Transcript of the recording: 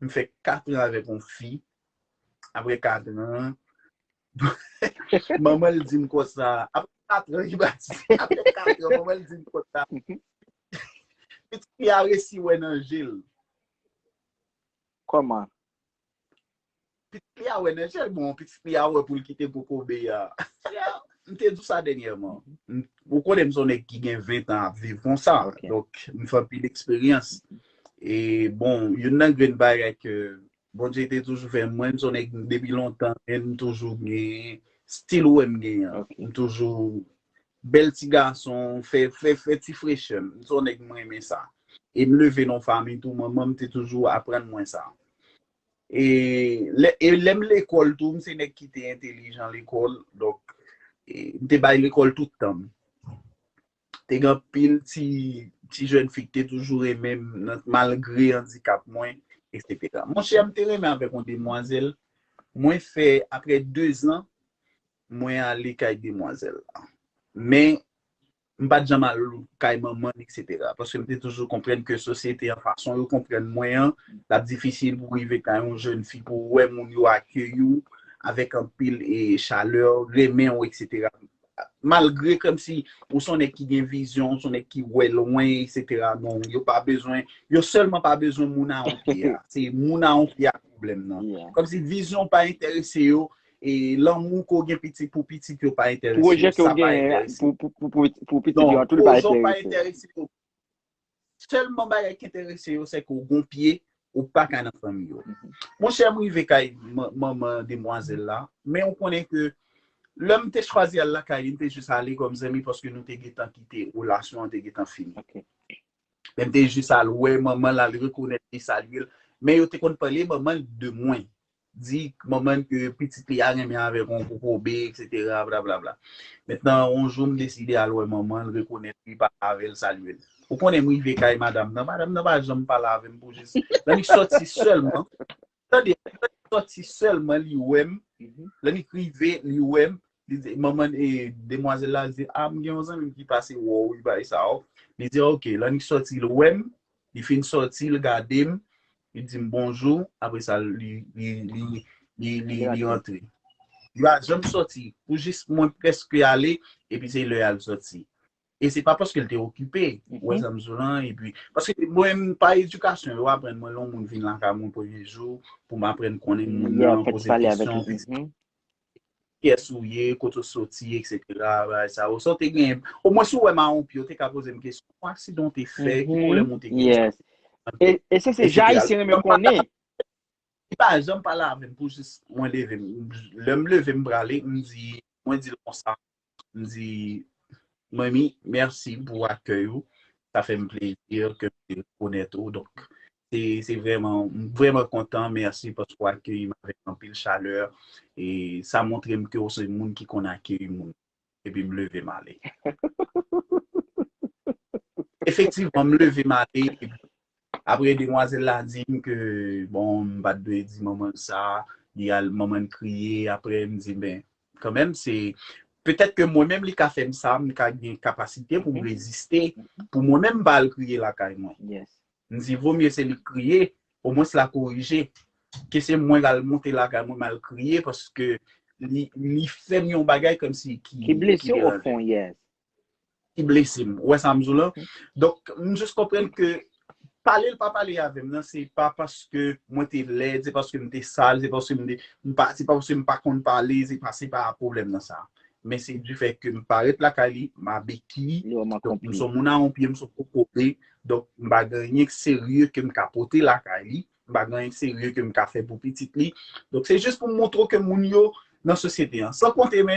M fè 4 an avèk yon fi, aprè 4 an, manman l di m konsa, aprè 4 an li pa di, aprè 4 an manman l di m konsa, pitit fi a resi wè nan je l. Kòman? Pitit fi a wè nan je l, bon pitit fi a wè pou l kite kokobe a. M te di w sa dènyèman, ou konnen m se yon nèg ki gen 20 an ap viv konsa, donk m fè anpil eksperyans. E bon, youn nan grenn bagay ke Bondye te toujou fè mwen, m son nèg depi lontan, men m toujou gen stil ou wè m gen an. Ok. M toujou bèl ti gason, fè fè fè ti frechè. M son nèg m renmen sa. E m leve nan fami tou, manman m te toujou aprann mwen sa. E lè e lè m lekòl tou, m se nèg ki te entelijan lekòl, donk e, m te bay lekòl tout tan m. te gen anpil ti ti jèn fi ki te toujou renmen m malgre andikap mwen eksetera. Monchè m te renmen avèk yon demwazèl, mwen fè aprè dezan mwen ale kay demwazèl la men m pa t janm al kay manman l eksetera paske m te toujou konprann ke sosyete an fason yo konprann mwen an l ap difisil pou w rive kay yon jèn fi pou w wè moun yo akeyi w avèk anpil chalè renmen w eksetera Malgre kòmsi ou son nèg ki gen vizyon, ou son nèg ki wè lwen eksetera non, yo pa bezwen, yo sèlman pa bezwen moun a yon pye a. Se moun a yon pye a pwoblèm nan. Kòmsi vizyon w pa enterese yo, e lanmou ke w gen pitit pou pitit yo pa enterese yo, sa pa enterese yo. Pwojè ke w genyen pou pitit yo an tou li pa enterese yo. Sèlman bagay ki enterese yo se ke w gon pye, ou pa ka nan fanmi yo. Mon chè, m rive kay manman demwazèl la, men ou konnen ke lè m te chwazi al lakay li, m te jis ale kòm zanmi paske nou te gentan kite, relasyon an te gentan fini. Men m te jis al wè manman l, al rekonèt li, salye l. Men yo te konn pale manman l de mwen. di manman n ke pitit li a renmen avèk yon kokobe eksetera blablabla. Mentnan yon jou m deside al wè manman l rekonèt li pale avè l salye l. Ou konnen m rive kay madam nan, madam nan pa janm pale avè m pou jis Lanik sòti sèlman, tande Lanik sòti sèlman li wè m, Lanik rive li wè m, li di manman e demwazèl la li di a m gen yon zanmi m ki pase wè w li bay sa w, li di ok Lanik sòti l wè m, Li fin sòti l gade m, li di m bonjou apre sa li rantre. Li pa janm sòti pou jis mwen prèske ale epi se lè a l sòti. E se pa paske l te okipe, ou wè sa m di w lan. Epi paske mwen menm pa edikasyon yo aprann mwen lè yon moun vin lakay mwen premye jou pou m aprann konnen moun nan, poze l kesyon. Kiyès ou ye, kote ou soti etc bagay sa yo. Sa w te gen, omwen si w wè m a yon pi ou te ka poze m kesyon, bon aksidan w te fè, ki pwoblèm ou te gen. Yes. E, e se se jan ayisyen renmen konnen. Li pa janm pale avè m pou jis mwen leve m. Lè m leve m prale, m di, mwen di l konsa, M di Manmi mèsi pou akèy ou, sa fè m plezi ke m te rekonèt ou donk se vrèman, m vrèman kontan mèsi paske w akeyi m avèk anpil chalè e sa montre m ke w se moun ki konn akeyi moun epi m leve m ale. Efektivman m leve m ale epi Apre demwazèl la dim ke bon m pat dwe di manman l sa, li al manman l kriye, apre m di men kanmenm se petèt ke mwen menm li ka fè m sa, m ka gen kapasite pou m reziste pou mwen menm m pa al kriye lakay mwen. M di vo mye se li k kriye, omwens la korije, ke se mwen l al monte lakay mwen m al kriye paske li fè m yon bagay kòmsi ki deranje m. ki blese m. Ou wè sa m di w lan? Donk, m jis konprann ke pale l pa pale avè m nan se pa paske mwen te lèd, se paske m te sal, se paske m te, m pa, se pa paske m pa konn pale, se pa, se pa pwoblèm nan sa. Men se di fèt ke m parèt lakay li, m a beki, donk m son moun a on pye, m son kokobe, donk m pa gen anyen k serye ke m ka pote lakay li, m pa gen anyen k serye ke m ka fè pou pitit li. Donk se jis pou m montre w ke moun yo nan sosyete an. San konte men,